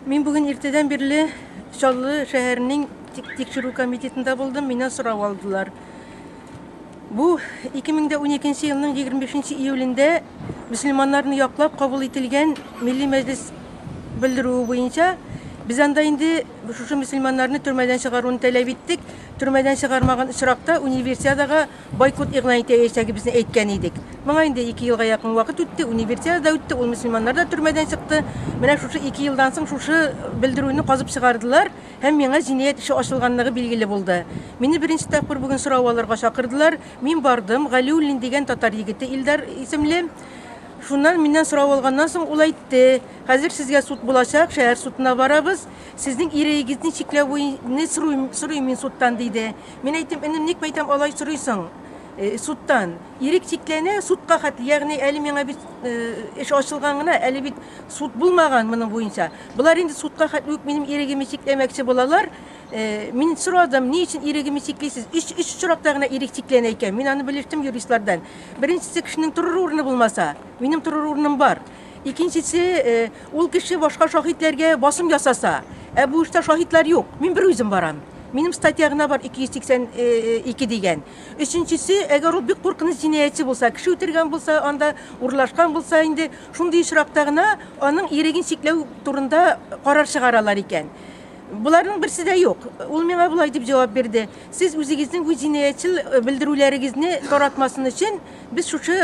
Мин бүген иртәдән бирле Чаллы шәһәренең тикшерү комитетында булдым, миннән сорау алдылар. Бу 2012 елның 25 июлендә мөселманнарны яклап кабул ителгән милли мәҗлес белдерүе буенча без анда инде шушы мөселманнарны төрмәдән чыгаруны таләп иттек. Төрмәдән чыгармаган очракта универсиадага Бойкот игълан итәячәгебезне әйткән идек. Моңа инде ике елга якын вакыт үтте, Универсиада да үтте, ул мөселманнар да төрмәдән чыкты. Менә шушы ике елдан соң шушы белдерүне казып чыгардылар һәм миңа җинаять эше ачылганлыгы билгеле булды. Мине беренче тапкыр бүген сорау алырга чакырдылар. Мин бардым, Галиуллин дигән татар егете, Илдар исемле. Шуннан миннән сорау алганнан соң ул әйтте, Хәзер сезгә суд булачак, шәһәр судына барабыз, сезнең иреегезне чикләвене сорыйм сорыйм мин судтан, диде. Мин әйттем, энем, ник мәйтәм алай сорыйсың судтан? Ирек чикләнә судка хәтле, ягъни әле миңа бит эш ачылган гына, әле бит суд булмаган моның буенча. Болар инде судка хәтле үк минем ирегемне чикләмәкче булалар. Мин сорадым, ни өчен ирегемне чиклисез? Өч өч очракта гына ирек чикләнә икән. Мин аны белештем юристлардан. Беренчесе кешенең торыр урыны булмаса, минем торыр урыным бар. Икенчесе, ул кеше башка шаһитләргә басым ясаса. Ә бу эштә шаһитлар юк. Мин бер үзем барам. Минем статья гына бар, 282 дигән. Өченчесе, әгәр ул бик куркыныч җинаятьче булса, кеше үтергән булса, анда урлашкан булса инде, шундый очракта гына аның иреген чикләү турында карар чыгаралар икән. Боларның берсе дә юк. Ул миңа болай дип җавап бирде, Сез үзегезнең бу җинаятьчел белдерүләрегезне таратмасын өчен, Без шушы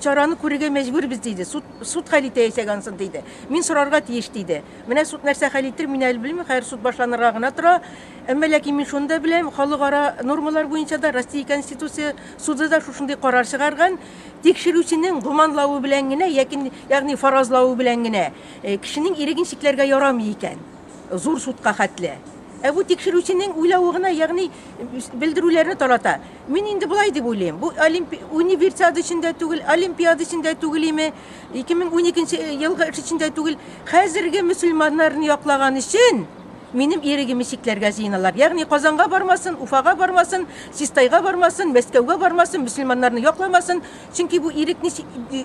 чараны күрергә мәҗбүрбез, диде. Суд, суд хәл итә яисәг ансын, диде. Мин сорарга тиеш, диде. Менә суд нәрсә хәл итер, мин әле белмим, хәер суд башланырга гына тора. Әмма ләкин мин шуны да беләм, халыкара нормалар буенча да Россия Конституция суды да шушындый карар чыгарган, тикшерүченең гоманлавы белән генә, яки, ягъни фаразлавы белән генә э, кешенең иреген чикләргә ярамый икән. Зур судка хәтле. Ә бу тикшерүченең уйлавы гына, ягъни белдерүләрне тарата. Мин инде болай дип уйлыйм, бу олимпи... универсиада өчен дә түгел, олимпиада өчен дә түгел име, 2012 елгы эш өчен дә түгел, хәзерге мөселманнарны яклаган өчен минем ирегемне чикләргә җыеналар. Ягъни Казанга бармасын, Уфага бармасын, Систайга бармасын, Мәскәүгә бармасын, мөселманнарны якламасын, чөнки бу ирекне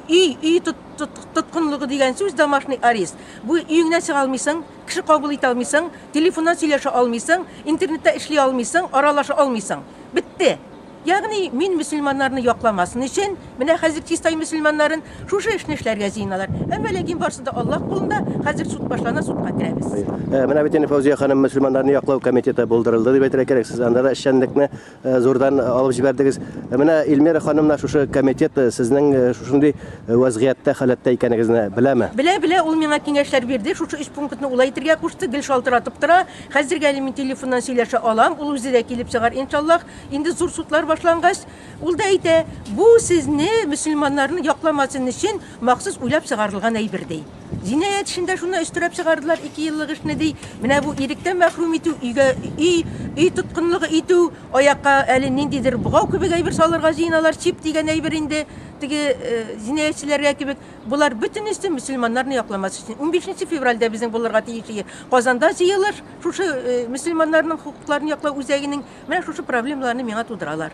өй, өй тоткынлыгы дигән сүз, домашний арест. Бу өеңнән чыга алмыйсың. Кеше кабул итә алмыйсың, телефоннан сөйләшә алмыйсың, интернетта эшли алмыйсың, аралаша алмыйсың. Бетте! Ягъни, мин мөселманнарны якламасын өчен, менә хәзер Чистай мөселманнарын шушы эшне эшләргә җыеналар. Әмма ләкин барсы да Аллаһ кулында, хәзер суд башлана, судка керәбез. Менә бит инде Фәүзия ханым мөселманнарны яклау комитеты булдырылды дип әйтергә кирәк, сез анда да эшчәнлекне Э, зурдан э, алып җибәрдегез. Э, менә Эльмира ханым менә шушы комитет сезнең шушындый вазгыятьтә, халәттә икәнегезне беләме? Белә, белә, ул миңа киңәшләр бирде. Шушы өч пунктны улай итергә кушты, гел шалтыратып тора. Хәзергә әле мин телефоннан сөйләшә алам, ул үзе дә килеп чыгар, иншаллах. Инде зур судлар башлангач, ул да әйтә, бу сезне, мөселманнарны якламасын өчен, махсус уйлап чыгарылган әйбер ди. Җинаять эшендә шуны өстерәп чыгардылар, ике еллык эшне, ди. Менә бу иректән мәхрүм итү, өйгә өй, өй тоткынлыгы итү, аякка әле ниндидер богау кебек әйбер салырга җыеналар, чип дигән әйбер инде, теге җинаятьчеләргә кебек. Болар бөтенесе мөселманнарны якламас өчен. Унбишенче февральдә безнең булырга тиеш Казанда җыелыш, шушы мөселманнарның хокукларын яклау үзәгенең, менә шушы проблемаларны миңа тудыралар.